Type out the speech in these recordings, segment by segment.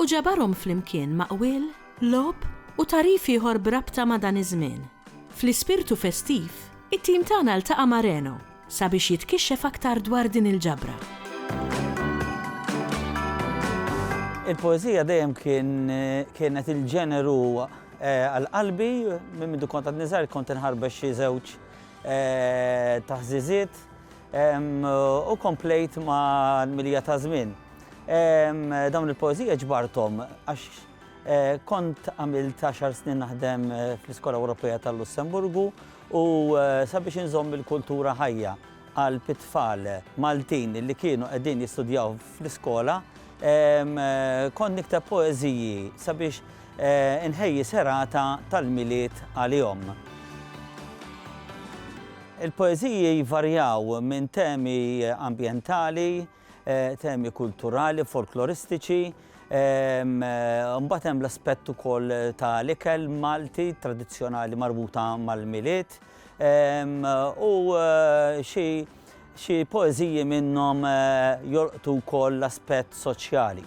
u ġabarhom flimkien ma' qwiel, logħob u tagħrif ieħor b'rabta ma' dan iż-żmien. Fl-ispirtu festiv, it-tim tagħna ltaqa' ma' Reno sabiex jitkixxef aktar dwar din il-ġabra. Il-poeżija dejjem kienet il-ġeneru għal qalbi, minn mindu kont għadni żgħir kont inħarbex xi żewġ taħżiżiet. U komplejt mal-milja ta' żmien. Dawn il-poeżija ġbarthom għax kont għamilt għaxar snin naħdem fl-Iskola Ewropea tal-Lussemburgu u sabiex inżomm il-kultura ħajja qalb it-tfal Maltin li kienu qegħdin jistudjaw fl-iskola, kont nikteb poeżiji sabiex Inħejji serata tal-Milied għalihom. Il-poeżiji jvarjaw minn temi ambjentali, temi kulturali, folkloristiċi, mbagħad hemm l-aspett ukoll tal-ikel Malti tradizzjonali marbuta mal-Milied u xi Xi poeżiji minnhom jolqtu wkoll l-aspett soċjali.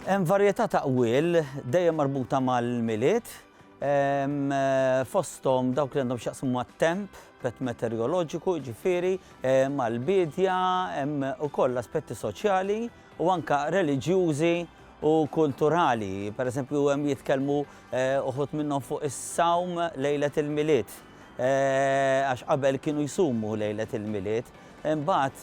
Hemm varjetà ta' qwiel dejjem marbuta mal-Milied, fosthom dawk li għandhom x'jaqsmu mat-temp, aspett meteoroloġiku jiġifieri, mal-biedja, hemm ukoll aspetti soċjali u anke reliġjużi u kulturali. Pereżempju hemm jitkellmu uħud minnhom fuq is-sawm lejlet il-Milied. għax qabel kienu jsumu lejlet il-Milied, imbagħad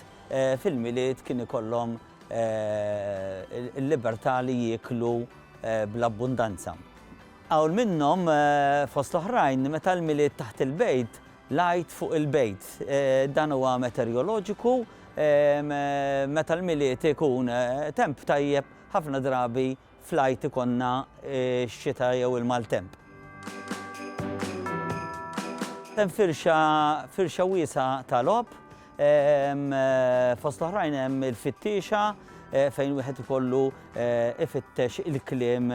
fil-Milied kien ikollhom il-libertà li jieklu bl-abbundanza. Hawn minnhom, fost l-oħrajn, meta l-Milied taħt il-bejt, l-Għid fuq il-bejt. Dan huwa meterjoloġiku, meta l-Milied ikun temp tajjeb, ħafna drabi Fl-Għid ikollna x-xita jew il-maltemp. Hemm firxa, firxa wiesgħa ta' logħob, fost l-oħrajn hemm il-fittiexa fejn wieħed ikollu ifittex il-kliem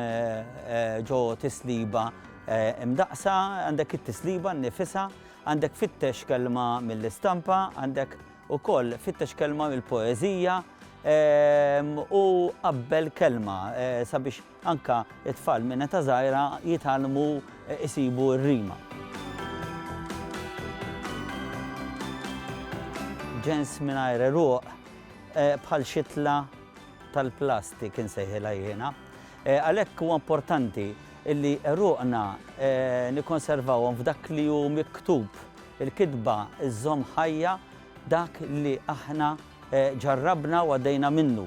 ġo tisliba mdaqqsa, għandek it-tisliba nnifisha, għandek fittex kelma mill-istampa, għandek Ukoll fittex kelma mill-poeżija u qabbel kelma sabiex anke t-tfal minn età żgħira jitgħallmu jsibu r-rima. Ġens mingħajr għeruq bħal xitla tal-plastik insejħilha jiena. Għalhekk huwa importanti li għeruqna nikkonservawhom f'dak li hu miktub Il-kitba żżomm ħajja dak li aħna ġarrabna u għaddejna minnu.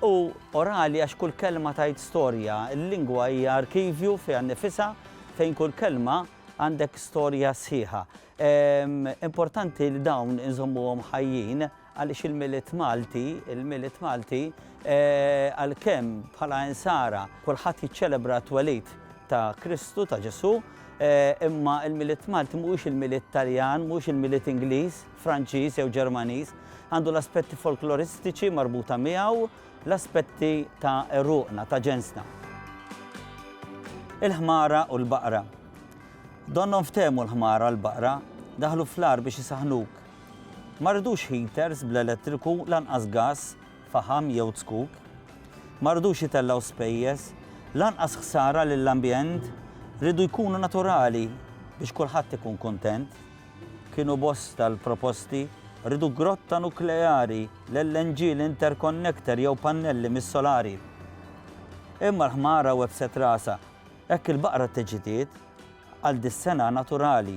Hu orali għax kull kelma tgħid storja. Il-lingwa hija arkivju fiha nnifisha fejn kull kelma għandek storja sħiħa. Importanti li dawn inżommuhom ħajjin. Għaliex il-Milied Malti, il-Milied Malti, għalkemm bħala Insara kulħadd jiċċelebra t-twelid ta' Kristu, ta' Ġesù, imma il-Milied Malti mhuwiex il-Milied Taljan, mhuwiex il-Milied Ingliż, Franċiż jew Ġermaniż. Għandu l-aspetti folkloristiċi marbuta miegħu, l-aspetti ta' għeruqna, ta' ġensna. Il-ħmara u l-baqra. Donnhom ftehmu l-ħmara u l-baqra, daħlu fl-agħar biex isaħħnuk. Ma rridux heaters bl-elettriku lanqas gass, faħam jew zzkuk. Ma rridux itellgħu spejjeż, lanqas ħsara lill-ambjent, rridu jkunu naturali biex kulħadd ikun kuntent. Kienu bosta l-proposti, rridu grotta nukleari, l-LNG, l-interconnector jew pannelli mis-solari. Imma l-ħmara webset rasha, hekk il-baqra tteġġdiet għal dis-sena naturali.